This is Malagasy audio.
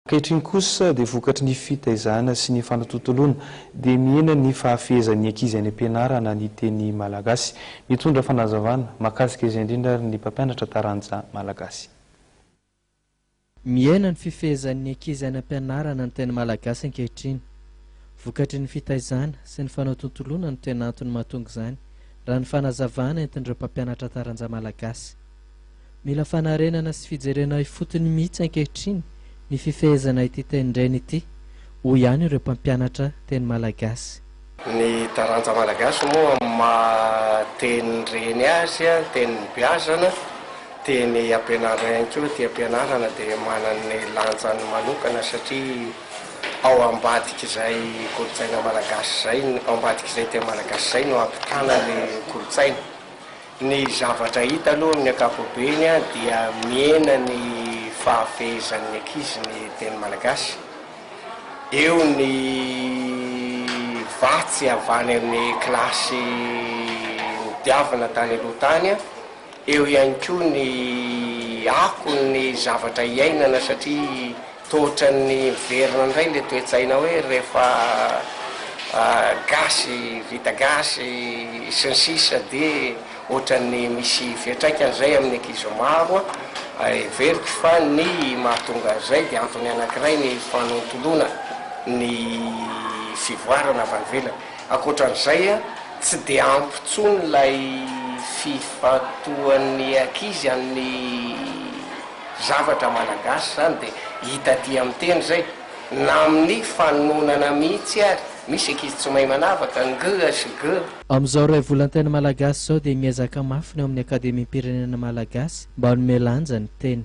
Ankehitriny kosa dia vokatry ny fitaizana sy ny fanatontoloana dia mihena ny fahafehezan'ny ankizy any am-pianarana ny teny malagasy. Mitondra fanazavana mahakasika izay indrindra ary ny mpampianatra taranja malagasy. Mihena ny fifehezan'ny ankizy any am-pianarana ny teny malagasy ankehitriny. Vokatry ny fitaizana sy ny fanatontoloana no tena antony mahatonga izany raha ny fanazavana entin'ireo mpampianatra taranja malagasy. Mila fanarenana sy fijerena ifotony mihitsy ankehitriny ny fifehezana ity tenin-dreny ity, hoy ihany ireo mpampianatra teny malagasy. Ny taranja malagasy moa amin'ny maha tenin-dreny azy, tenin'ny beazana, teny ampianarina ihany koa ity ampianarana dia manana ny lanjany manokana satria ao ambadik'izay kolontsaina malagasy izay, ao ambadik'izay teny malagasy izay no ampitana ny kolontsaina. Ny zavatra hita aloha amin'ny ankapobeny dia mihena ny fahafehezan'ny ankizy ny teny malagasy. Eo ny vatsy avy any amin'ny kilasy nodiavina tany aloha tany, eo ihany koa ny akon'ny zavatra iainana satria Toa ohatran'ny miverina indray ilay toe-tsaina hoe rehefa gasy, vita gasy, sy ny sisa dia ohatran'ny misy fiantraikany izay amin'ny ankizy maro. Heveriko fa ny mahatonga an'izay dia antony anankiray ny fanontoloana ny fivoarana avy any ivelany. Ankoatra an'izay, tsy dia ampy intsony ilay fifantohan'ny ankizy amin'ny. Zavatra malagasy zany dia hita aty amin'ny teny zay na amin'ny fanononana mihitsy ary misy ankizy tsy mahay manavaka ng sy g. Amin'izao iray volan-teny malagasy izao dia miezaka mafy ny ao amin'ny Akademiam-pirenena malagasy mba hanome lanja ny teny.